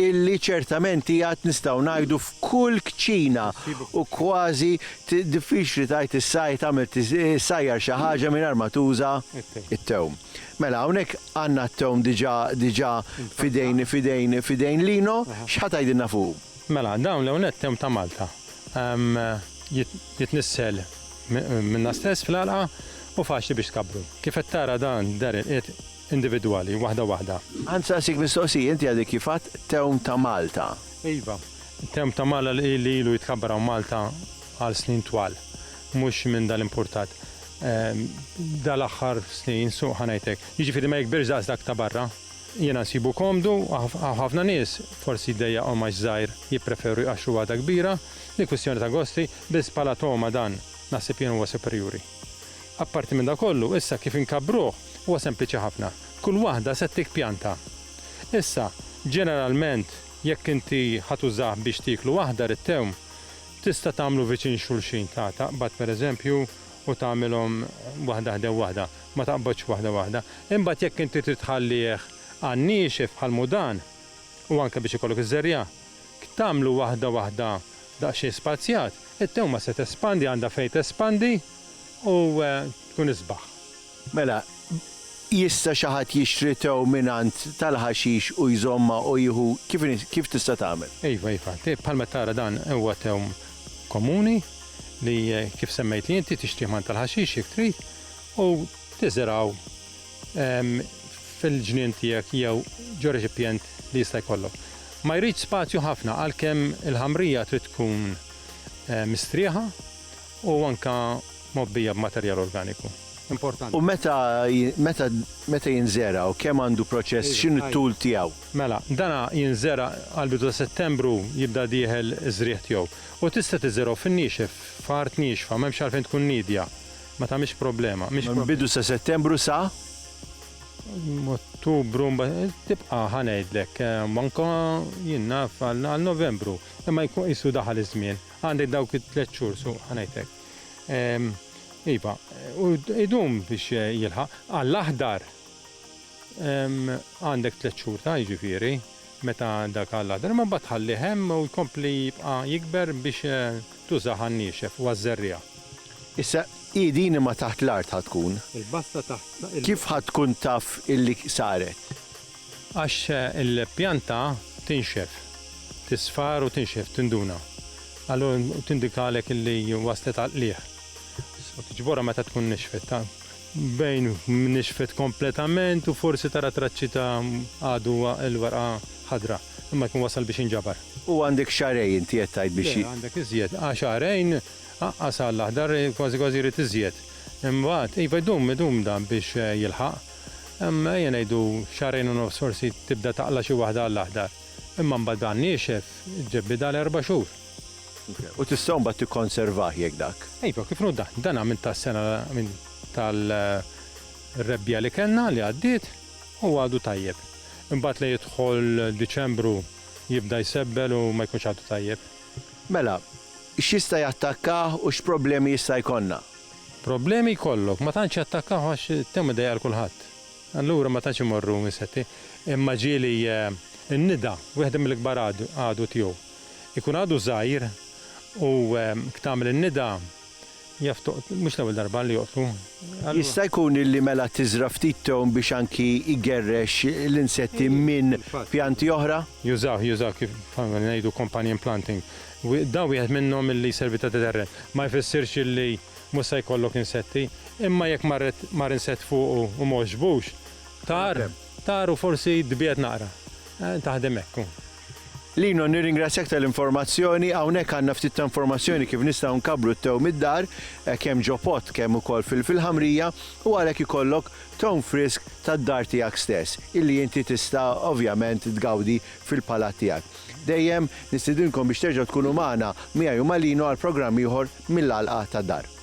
illi ċertament hi għad nistgħu ngħidu f'kull kċina u kważi diffiċli tgħid issa li tagħmel issajjar xi ħaġa mingħajr ma tuża t-tewm. Mela hawnhekk għandna t-tewm diġà diġà f'idejn f'idejn f'idejn Lino, x'ħa tgħidilna fuqu? Mela dawn l-ewwel nett tewm ta' Malta. Jitnissel minna stess fl-għalqa u faċli biex tkabbru. Kif qed tara dan dar il-qiegħ individwali, waħda waħda. Ħa nsaqsik mistoqsija, inti għadek kif għedt Tewm ta' Malta. Iva, Tewm ta' Mala li ilu jitkabbar hawn Malta għal snin twal, mhux minn dal-importat. Dal-aħħar snin, suq ħa ngħidlek, jiġifieri ma jikbirx daqs dak ta' barra. Jiena nsibu komdu, hawn ħafna nies, forsi jdejjaqhom għax żgħir, jippreferu jqaxxru waħda kbira, li kwistjoni ta' gosti, biss bħala togħma dan, naħseb jien huwa superjuri. Apparti minn dan kollu, issa kif inkabbruh huwa sempliċi ħafna. Kull waħda se ttik pjanta. Issa, ġeneralment, jekk inti ħa tużah biex tieklu aħdar it-tewm, tista' tagħmlu viċin xulxin, ta, taqbad pereżempju u tagħmilhom waħda ħdew waħda, ma taqbodx waħda waħda. Imbagħad jekk inti trid tħallih għan-niexef bħal mudan u anke biex ikollok iż-żerriegħa, Jekk tagħmlu waħda waħda daqsxejn spazjat, it-tewma se tespandi għandha fejn tespandi u tkun isbaħ. Mela, jista' xi ħadd jixtri tew mingħand tal-ħaxix u jżommha u jieħu kif kif tista' tagħmel? Iva, iva. Bħal ma tara dan huwa tewm komuni li kif semmejtli inti tixtrih mingħand tal-ħaxix jekk trid u tiżergħu fil-ġnien tiegħek jew ġo reċipjent li jista' jkollok. Ma jridx spazju ħafna għalkemm il-ħamrija trid tkun mistrieħa u anke mgħobbija b'materjal organiku. U meta meta jinżera' u kemm għandu proċess x'inhu t-tul tiegħu? Mela, dan jinżera' għall-bidu ta' Settembru jibda dieħel iż-żrigħ tiegħu. U tista' tiżergħu fin-niexef, f'art niexfa, m'hemmx għalfejn tkun niedja. Ma tagħmilx problema. Mill-bidu sa Settembru sa? Ottubru mbagħad tibqa' ħa ngħidlek anke jien naf għal Novembru, imma jkun qisu daħal iż-żmien. Għandek dawk it-tliet xhur su ħa ngħidlek. Iva, u jdum biex jilħaq. Għall-aħdar għandek tliet xhur ta' jiġifieri. Meta dak għall-aħdar imma mbagħad tħallih hemm u jkompli jibqa' jikber biex tużah għan-niexef u għaż-żerriegħa. Issa, hi din imma taħt l-art ħa tkun. Il-basta taħt l-art. Kif ħa tkun taf illi saret? Għax il-pjanta tinxef, tisfar u tinxef, tinduna. Allura tindikalek illi waslet għall-qligħ. U tiġborha meta tkun nixfet. Bejn nixfet kompletament u forsi tara traċċi ta' għadu l-warqa ħadra, imma jkun wasal biex jinġabar. U għandek xahrejn inti qed tgħid biex. Le, għandek iżjed. Għal xahrejn aqqas għall-aħdar kważi kważi jrid iżjed. Imbagħad, iva jdum, idum dan biex jilħaq. Ejja ngħidu xahrejn u nofs forsi tibda taqla' xi waħda għall-aħdar. Imma mbagħad bla niexef, ġġebbidha għal erba' xhur. U tista' mbagħad tikkonservah jekk dak. Iva, kif inhu dan? Dan għamilt tas-sena minn tal-rebbija li kellna li għaddiet u għadu tajjeb. Imbagħad li jidħol Diċembru jibda jsebbel u ma jkunx għadu tajjeb. Mela, x'jista' jattakkah u x'problemi jista' jkollna? Problemi jkollok, ma tantx jattakkah għax it-tewm idejjaq għal kulħadd. Allura ma tantx imorru insetti. Imma ġieli n-nida, wieħda mill-ikbar għadu tiegħu. ikun għadu żgħir u tagħmel in-nida, jaf toqtlu, mhux l-ewwel darba li joqtlu. Jista' jkun li mela tiżra' ftit tewm biex anki jgerrex l-insetti minn pjanti oħra? Jużawh, jużawh kif ngħidu companion planting. Dan wieħed minnhom li jservi ta' deterrent. Ma jfissirx li mhux se jkollok insetti, imma jekk marret mar insett fuqu u m'għoġbux, tar, tar u forsi tbiegħed naqra. Taħdem hekk. Lino, nirringrazzjak tal-informazzjoni. Hawnhekk għandna ftit ta' informazzjoni kif nistgħu nkabbru t-tew mid-dar, eh, kemm ġo pott kemm ukoll fil-ħamrija, u għalhekk ikollok town frisk tad-dar tiegħek stess, illi inti tista' ovvjament tgawdi fil-palat tiegħek. Dejjem nistidinkom biex terġgħu tkunu magħna miegħi u ma' Lino għal programm ieħor mill-għalqa tad-dar.